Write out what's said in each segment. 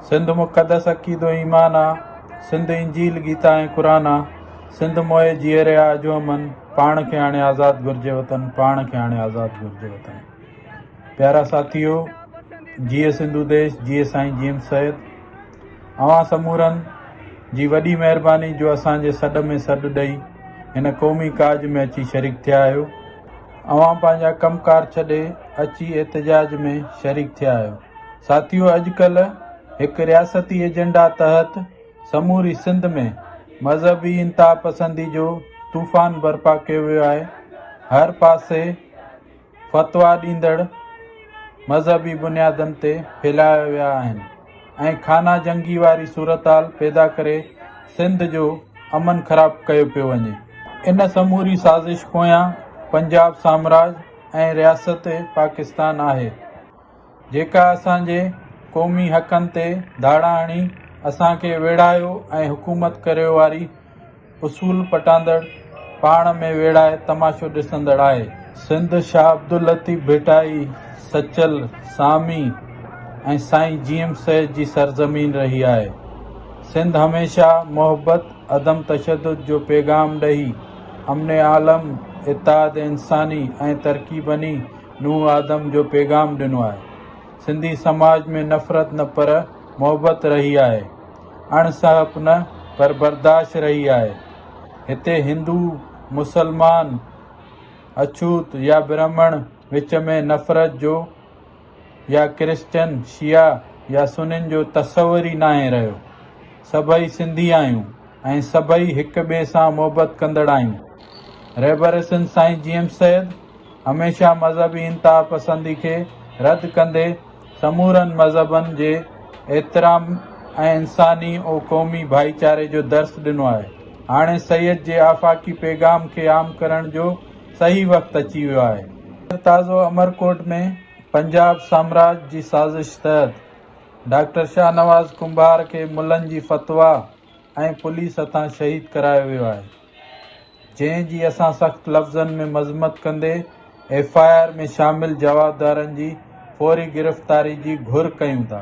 سنڌ مقدس عقيدو ۽ ايمان آ، سنڌ انجيل گيتا ۽ قرآن آ، سنڌ موئي جيئري آ اجهو امن، پاڻ کي هاڻي آزاد گهرجي وطن، پاڻ کي هاڻي آزاد گهرجي وطن. پيارا ساٿيو، جيئي سنڌو ديش، جيئي سائين جي ايم سيد، اوهان سمورن جي وڏي مهرباني جو اسان جي سڏ ۾ سڏ ڏئي هن قومي ڪاڄ ۾ اچي شريڪ ٿيا آهيو، اوهان پنهنجا ڪم ڪار ڇڏي اچي احتجاج ۾ شريڪ ٿيا آهيو ساٿيو اڄ ڪلهه هڪ رياستي ايجنڊا تحت سموري سنڌ ۾ مذهبي انتها پسندي جو طوفان برپا ڪيو ويو آهي هر پاسي فتوا ڏيندڙ مذهبي بنيادن تي ڦيلايا ويا آهن ۽ خانه جنگي واري صورتحال پيدا ڪري سنڌ جو امن خراب ڪيو پيو وڃي. ان سموري سازش پويان پنجاب سامراج ۽ رياست پاڪستان آهي، جيڪا اسان جي قومي حقن تي ڌاڙا هڻي اسان کي ويڙهايو ۽ حڪومت ڪريو واري اصول پٽاندڙ، پاڻ ۾ ويڙهائي تماشو ڏسندڙ آهي. سنڌ شاهه عبداللطيف ڀٽائي، سچل، سامي ۽ سائين جي ايم سيد جي سرزمين رهي آهي. سنڌ هميشه محبت، عدم تشدد جو پيغام ڏئي، امن عالم، اتحاد انساني ۽ ترقي بني نوح آدم جو پيغام ڏنو آهي. سنڌي سماج ۾ نفرت نه پر محبت رهي آهي. اڻ سهپ نه پر برداشت رهي آهي. هتي هندو، مسلمان، اڇوت يا برهمڻ وچ ۾ نفرت جو يا ڪرسچن، شيعا يا سنين جو تصور ئي ناهي رهيو. سڀئي سنڌي آهيون ۽ سڀئي هڪ ٻئي سان محبت ڪندڙ آهيون. رهبر حسن سائين جيئم سيد، هميشه مذهبي انتهاپسندي کي رد ڪندي سمورن مذهبن جي احترام ۽ انساني و قومي ڀائيچاري جو درس ڏنو آهي. هاڻي سيد جي آفاقي پيغام کي عام ڪرڻ جو صحيح وقت اچي ويو آهي. هينئر تازو امرڪوٽ ۾ پنجاب سامراج جي سازش تحت ڊاڪٽر شاهنواز ڪنڀار کي ملن جي فتويٰ ۽ پوليس هٿان شهيد ڪرايو ويو آهي. جنهن جي اسان سخت لفظن ۾ مذمت ڪندي ايف آء آر ۾ شامل جوابدارن جي فوري گرفتاري جي گهر ڪيون ٿا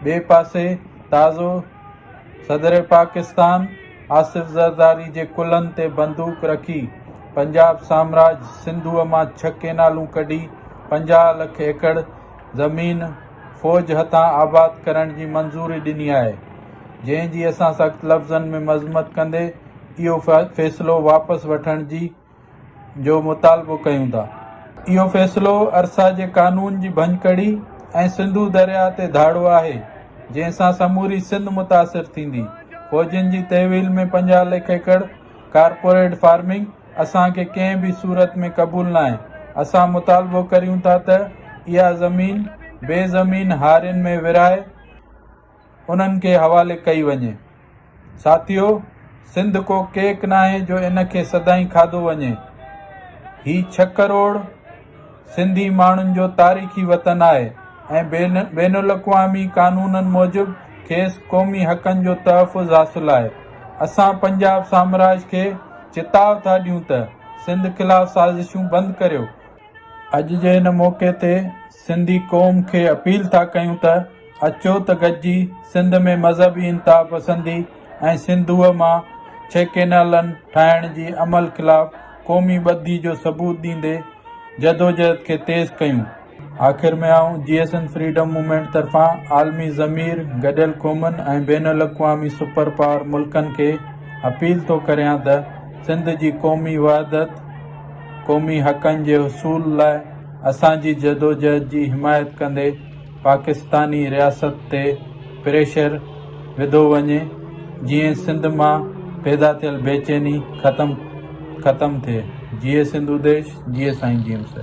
ٻئي پاسي تازو صدر پاڪستان آصف زرداري جي ڪلهن تي بندوق رکي پنجاب سامراج سنڌوء مان ڇهه ڪينالون ڪڍي پنجاهه لک ايڪڙ زمين فوج هٿان آباد ڪرڻ جي منظوري ڏني آهي جنهن جي اسان سخت لفظن ۾ مذمت ڪندي اهو فيصلو واپس وٺڻ جي جو مطالبو ڪيون ٿا. اهو فيصلو ارسا جي قانون جي ڀڃڪڙي ۽ سنڌو درياهه تي ڌاڙو آهي، جنهن سان سموري سنڌ متاثر ٿيندي. فوجين جي تحويل ۾ پنجاهه لک ايڪڙ ڪارپوريٽ فارمنگ اسان کي ڪنهن به صورت ۾ قبول ناهي. اسان مطالبو ڪريون ٿا ته اها زمين بي زمين هارين ۾ ورهائي، انهن کي حوالي ڪئي وڃي. ساٿيو! سنڌ ڪو ڪيڪ ناهي جو ان کي سدائين کاڌو وڃي. هي ڇهه ڪروڙ سنڌي ماڻهن جو تاريخي وطن آهي ۽ بين الاقوامي قانونن موجب کيس قومي حقن جو تحفظ حاصل آهي. اسان پنجاب سامراج کي چتاء ٿا ڏيون ته سنڌ خلاف سازشون بند ڪريو. اڄ جي هن موقعي تي سنڌي قوم کي اپيل ٿا ڪيون ته اچو ته گڏجي سنڌ ۾ مذهبي انتها پسندي ۽ سنڌوء مان ڇهه ڪينالن ٺاهڻ جي عمل خلاف قومي ٻڌي جو ثبوت ڏيندي جدوجهد کي تيز ڪيون. آخر ۾ آئون J S N freedom movement طرفان عالمي ضمير، گڏيل قومن ۽ بين الاقوامي سپر پاور ملڪن کي اپيل ٿو ڪريان ته سنڌ جي قومي وحدت، قومي حقن جي حصول لاء، اسان جي جدوجهد جي حمايت ڪندي پاڪستاني رياست تي پريشر وڌو وڃي جيئن سنڌ مان پيدا ٿيل بيچيني ختم ختم ٿئي جيئي سنڌوديش جيئي سائين جيئمس.